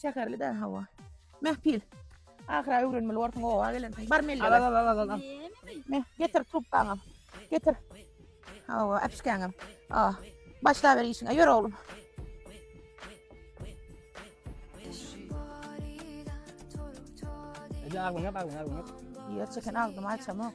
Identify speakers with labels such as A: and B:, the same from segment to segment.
A: Şäherli-dä hawa. Mähpil. Ahyra öwrenmeli borsuň oba gelensiň. Bar melle. Al al al al al.
B: Meh,
A: getir trubkaňy. Getir. Hawa, äpişkäňem. Ah, başla ber işiňe. Ýör oglum. Ýa aglyňa,
B: aglyňa, aglyňa. Ýer çeken
A: agdymy açamok.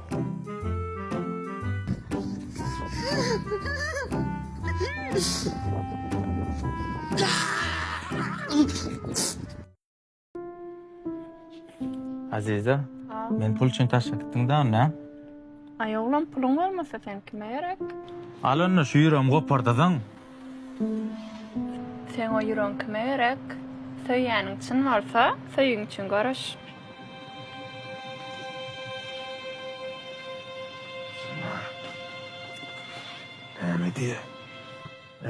C: Aziza, meni pul üçin taşlap gitdiň-dä onda? Aý, oglan,
D: puluň bolmasa, sen kime gerek? Al onda, şu
C: ýüregimi gopardasaň.
D: Seň o ýüregiň kime gerek? Söýýäniň çyn bolsa, söýgiň üçin göreş.
E: Näme diýýä?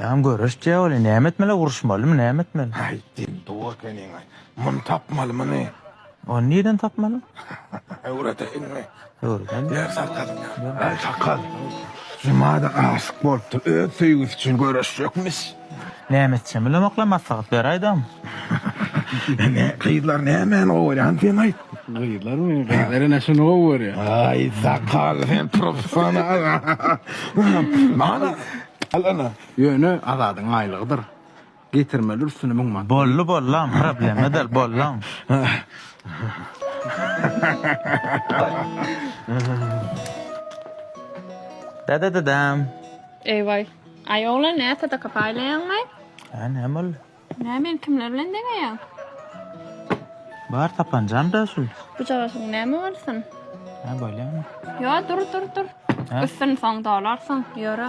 E: Jan
C: göreş dýaboli näme etmeli uruşmalymy näme etmeli. Aýtdym dur
E: ekeniň aý. Muny tapmaly muny. Ony nireden
C: tapmaly?
E: Öwredeýinmi? Ýer sakgal, aý sakgal, Juma-da aşyk bolupdyr, öz söýgüsi üçin göreşjekmiş. Näme
C: etjegem bilemoklar, maslahat beraýdam.
E: Ine, gyzlar nämäni gowy görýän, sen aýt. Gyzlarmy,
F: gyzlar ine şuny gowy görýär. Aý sakgal,
E: sen professional. Mana, al ine. Ýöne Azadyň
F: aýlygydyr. Getirmeli üstüne müň manat. Bolly bollam
C: problema dal bollam. Dada dadam. Eý
D: waý. Aý oglan nä sadaka paýlaýaňmy? Hä näme
C: boldy? Nä men kimler
D: bilen deňeýäň?
C: Bar tapanjam da şul. Bu jagaşyň näme
D: bolsun? Hä bolýamy?
C: Ýo dur dur
D: dur. Üstüni soň dolarsyň ýöre.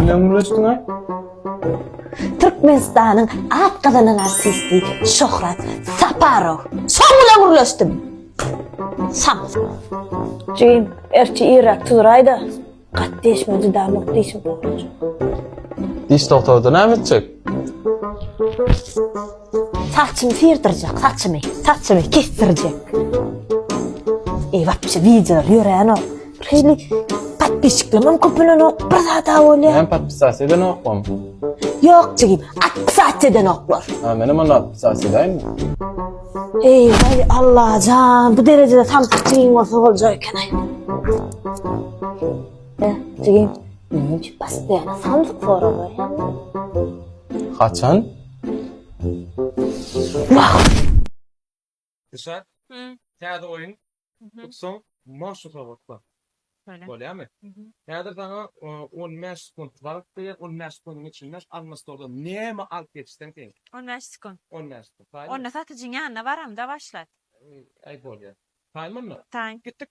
G: Bilen ulaşdyň ha? Türkmenistanyň
H: at gazanan artisti Şöhrat Saparow. Soň bilen gürleşdim. Sam. Jigim, erçi irrak tuzraýda. Gat deşme dudamok dişim. Diş
G: doktory näme etjek?
H: Saçymy syrdyrjak, saçymy, saçymy kesdirjek. Eý, wapşe wideolar ýörenok. Şeýle podpisçiklerim köpelenok, bir zada bolýar. Näme podpisasiýa
G: edenokmam? Ýok
H: jigim, atpisasiýa edenoklar. Ha, menem onda atpisasiýa
G: edäýinmi?
H: Eý, eý, Allajan, bu derejede samsyk jigim bolsa boljak eken-aý. Hä, jigim, näme üçin postoýan samsyk sorag berýäň?
G: Haçan?
I: Dişar, täze oýun tutsaň, maşy sowatla. Bolýamy? Häzir saňa on bäş sekunt wagt berýän, on bäş sekundyň içinde alma stoldan näme alyp geçseň teň. On bäş sekunt. On
J: bäş sekunt. Onda
I: satyjyň ýanyna
J: baram-da başlat. Aý bolýa.
I: Taýmymy? Taý. Gitdik.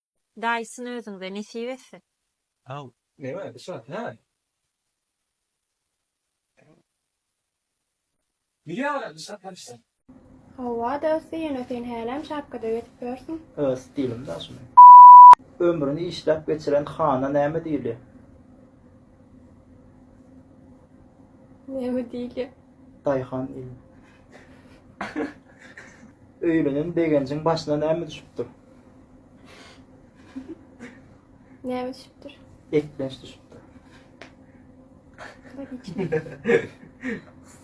J: Daýysyn özüňize nesip etsin. How.
K: Neme Yşrat
I: hä. Bilýän welin Yşrat hemşire. Howwa
J: dosti ýöne sen hälem şapkada gezip ýörsüň. Öz stilim da şuny.
C: Ömrüni işläp geçiren hana näme diýilýär?
J: Näme diýilýär? Daýhan
C: diýilýär. Öýlenen begenjiň başyna näme düşüpdir?
J: Näme düşüpdir? Eklenç düşüpdir.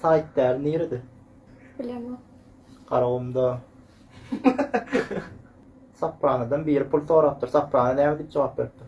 C: Saýt däl nirede? Bilemok.
J: Garagumda.
C: Sapranadan biri pul sorapdyr. Saprana näme diýip jogap beripdir?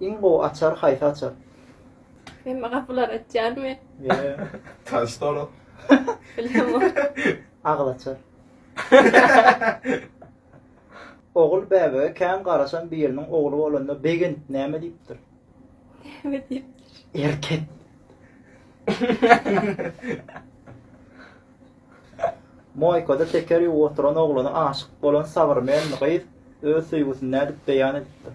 C: Iň gowy açar haýsy açar. Hemme
J: gapylar açýarmy?
L: Taş stolu.
J: Agyz
C: açar. Ogul bäbege kän garaşan biriniň ogly bolanda begent näme diýipdir? Näme
J: diýipdir? Erkek.
C: Moýkada teker ýuwup oturan ogluna aşyk bolan Sabyrmenmi gyz? öz söýgüsini nädip beýan edipdir?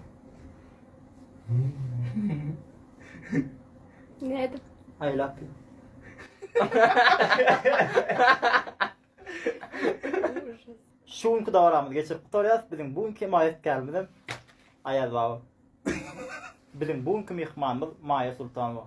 J: Nädip? I love you.
C: Şu günki dowramyzy geçirip gutarýas. Biziň bu günki maýatkarymyz hem Aýaz baba. Biziň bu günki myhmanymyz Maýa Sultanowa.